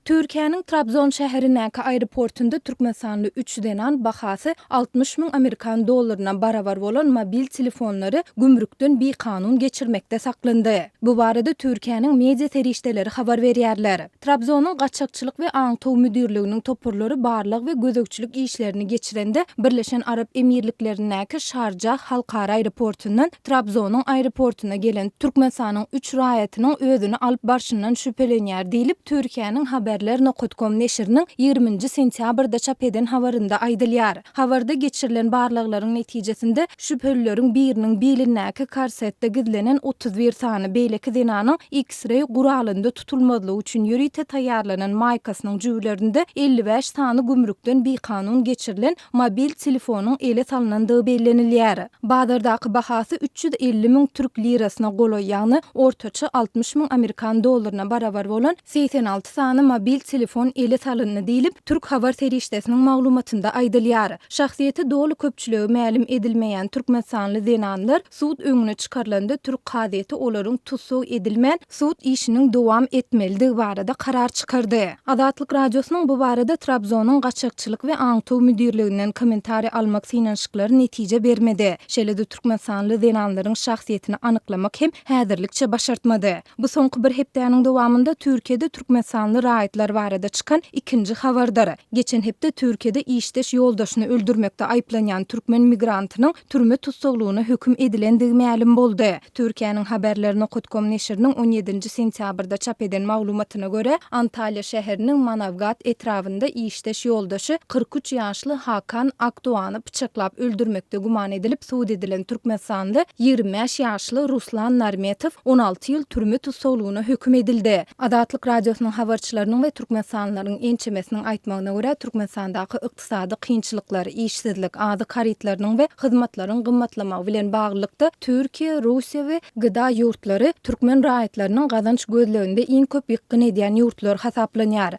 Türkiýäniň Trabzon şäherindäki aeroportunda türkmenistanly üç zenan bahasy altmyş müň amerikan dollaryna barabar bolan mobil telefonlary gümrükden bikanun geçirmekde saklandy. Bu barada Türkiýäniň media serişdeleri habar berýärler. Trabzonyň Gaçakçylyk we aňtaw müdirliginiň toparlary barlag we gözegçilik işlerini geçirende Birleşen Arap Emirliklerindäki Şarjah halkara aeroportundan Trabzonyň aeroportuna gelen Türkmenistanyň üç raýatynyň özüni alyp barşyndan şübhelenýär diýlip, Türkiýäniň Haberler nokot kom neşiriniň ýigrimi nji sentýabrda çap eden habarynda aýdylýar. Habarda geçirilen barlaglaryň netijesinde, şübhelileriň biriniň bilindäki korsetde gizlenen otuz bir sany, beýleki zenanyň X-ray guralynda, tutulmazlygy üçin ýörite taýýarlanan maýkasynyň jübülerinde elli bäş sany gümrükden bikanun geçirilen mobil telefonyň ele salnandygy bellenilýär. Bazardaky bahasy üç ýüz elli müň türk lirasyna golaý, ýagny ortaça altmyş müň amerikan dollaryna barabar bolan segsen alty sany mobil telefon ele salyndy diýlip, türk habar serişdesiniň maglumatynda aýdylýar. Şahsyýeti doly köpçülige mälim edilmeýän türkmenistanly zenanlar Sud öňüne çykarylanda türk kazyýeti olaryň tussag edilmän, sud işiniň dowam etmelidigi barada karar çykardy. Azatlyk Radiosynyň bu barada Trabzonyň gaçakçylyk we aňtaw müdirliginden kommentariýa almak synanyşyklary netije bermedi. Şeýle-de türkmenistanly zenanlaryň şahsyýetini anyklamak hem häzirlikçe başartmady. Bu soňky bir hepdäniň dowamynda Türkiýede türkmenistanly raýatlar barada çykan ikinji habardyr. Geçen hepde Türkiýede işdeş ýoldaşyny öldürmekde aýyplanýan türkmen migrantynyň türme tussaglygyna höküm edilendigi mälim boldy. Türkiýäniň Haberler. Nokatkom neşiriniň on ýedinji sentýabrda çap eden maglumatyna görä, Antalýa şäheriniň Manawgat etrabynda işdeş ýoldaşy kyrk üç ýaşly Hakan Akdoany pyçaklap öldürmekde güman edilip sud edilen türkmenistanly ýigrimi bäş ýaşly Ruslan Narmetow on alty ýyl türme tussaglygyna höküm edildi. Azatlyk Radiosynyň habarçylarynyň we türkmenistanlylaryň ençemesiniň aýtmagyna görä, Türkmenistandaky ykdysady kynçylyklar, işsizlik, azyk harytlarynyň we hyzmatlaryň gymmatlamagy bilen baglylykda Türkiýe, Russiýa we GDA ýurtlary türkmen raýatlarynyň gazanç gözleginde iň köp ýykgyn edýän ýurtlar hasaplanýar.